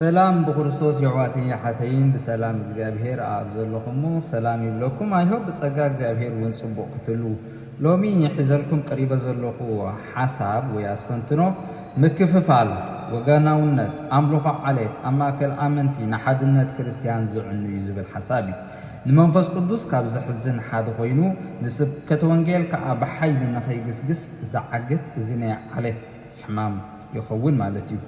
ሰላም ብክርስቶስ የሕዋተይን የሓተይን ብሰላም እግዚኣብሄር ኣኣብ ዘለኹሞ ሰላም ይብለኩም ኣይ ሆፕ ብጸጋ እግዚኣብሄር ውን ጽቡቕ ክትህልዉ ሎሚ ሒዘልኩም ቀሪበ ዘለኹ ሓሳብ ወይ ኣስተንትኖ ምክፍፋል ወገናውነት ኣምልኾ ዓሌት ኣብ ማእከል ኣመንቲ ንሓድነት ክርስትያን ዝዕኑ እዩ ዝብል ሓሳብ እዩ ንመንፈስ ቅዱስ ካብ ዘሕዝን ሓደ ኮይኑ ንስብከተ ወንጌል ከኣ ብሓይሊ ንኸይግስግስ ዝዓግት እዚ ናይ ዓሌት ሕማም ይኸውን ማለት እዩ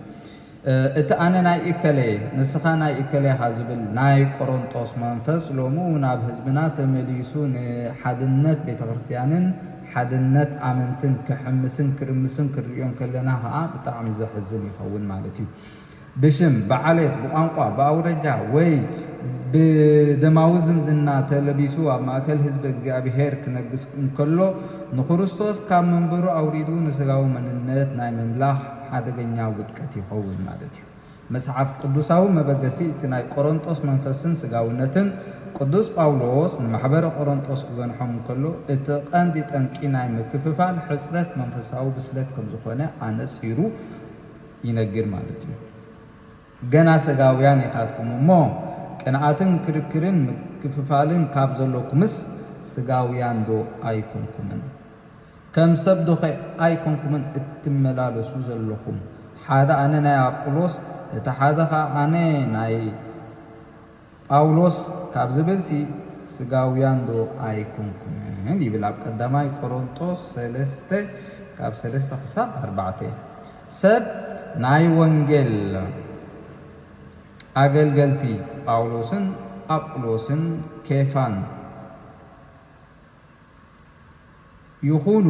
እቲ ኣነ ናይ እከሌ'የ፣ ንስኻ ናይ እከሌ ኢኻ ዝብል ናይ ቆሮንጦስ መንፈስ ሎሚ እውን ኣብ ህዝብና ተመሊሱ ንሓድነት ቤተክርስትያንን ሓድነት ኣመንትን ክሕምስን ክርምስን ክንርእዮ እንከለና ከኣ ብጣዕሚ ዘሕዝን ይኸውን ማለት እዩ። ብሽም፣ ብዓሌት፣ ብቋንቋ፣ ብኣውራጃ ወይ ብደማዊ ዝምድና ተለቢሱ ኣብ ማእከል ህዝበ እግዚኣብሔር ክነግስ እንከሎ ንክርስቶስ ካብ መንበሩ ኣውሪዱ ንሥጋዊ መንነት ናይ ምምላኽ ሓደገኛ ውድቀት ይኸውን ማለት እዩ። መጽሓፍ ቅዱሳዊ መበገሲ እቲ ናይ ቈረንጦስ መንፈስን ስጋውነትን፣ ቅዱስ ጳውሎስ ንማሕበረ ቈረንጦስ ክገንሖም እንከሎ፣ እቲ ቐንዲ ጠንቂ ናይ ምክፍፋል ሕጽረት መንፈሳዊ ብስለት ከም ዝዀነ ኣነጺሩ ይነግር ማለት እዩ። ገና ሰጋውያን ኢኻትኩም እሞ፣ ቅንኣትን ክርክርን ምክፍፋልን ካብ ዘሎኩምስ፣ ስጋውያንዶ ኣይኰንኩምን? ከም ሰብ ዶ ከ ኣይ ኮንኩምን እትመላለሱ ዘለኹም ሓደ ኣነ ናይ ኣጵሎስ እቲ ሓደ ከኣ ኣነ ናይ ጳውሎስ ካብ ዝብል ሲ ስጋውያን ዶ ኣይ ኮንኩምን ይብል ኣብ ቀዳማይ ቆሮንጦስ ሰለስተ ካብ ሰለስተ ክሳብ ኣርባዕተ ሰብ ናይ ወንጌል ኣገልገልቲ ጳውሎስን ኣጵሎስን ኬፋን ይኹኑ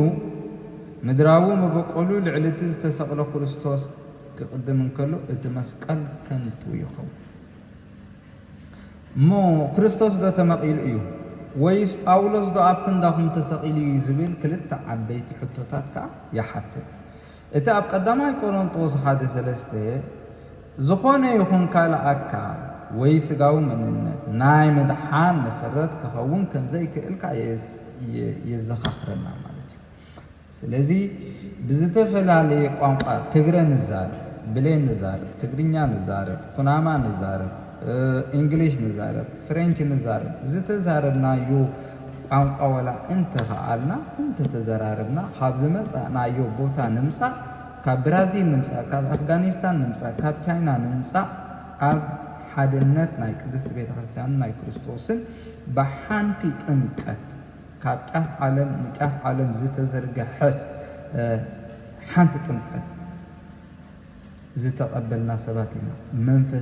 ምድራዊ መበቆሉ ልዕሊ እቲ ዝተሰቕለ ክርስቶስ ክቕድም እንከሎ እቲ መስቀል ከንቱ ይኸውን። እሞ ክርስቶስ ዶ ተመቒሉ እዩ ወይስ ጳውሎስ ዶ ኣብ ክንዳኹም ተሰቒሉ እዩ ዝብል ክልተ ዓበይቲ ሕቶታት ከኣ ይሓትት። እቲ ኣብ ቀዳማይ ቆሮንጦስ ሓደ ሰለስተ ዝኾነ ይኹን ካልእ ኣካል ወይ ስጋዊ መንነት ናይ ምድሓን መሰረት ክኸውን ከምዘይክእል ከኣ የዘኻኽረና ማለት እዩ። ስለዚ ብዝተፈላለየ ቋንቋ ትግረ ንዛረብ፣ ብሌን ንዛረብ፣ ትግርኛ ንዛረብ፣ ኩናማ ንዛረብ፣ እንግሊሽ ንዛረብ፣ ፍሬንች ንዛረብ ዝተዛረብናዮ ቋንቋ ወላ እንተኸኣልና እንተተዘራረብና ካብ ዝመጻእናዮ ቦታ ንምጻእ ካብ ብራዚል ንምጻእ ካብ ኣፍጋኒስታን ንምጻእ ካብ ቻይና ንምጻእ ኣብ ሓድነት ናይ ቅድስቲ ቤተ ክርስቲያንን ናይ ክርስቶስን ብሓንቲ ጥምቀት ካብ ጫፍ ዓለም ንጫፍ ዓለም ዝተዘርገሐት ሓንቲ ጥምቀት ዝተቐበልና ሰባት ኢና መንፈስ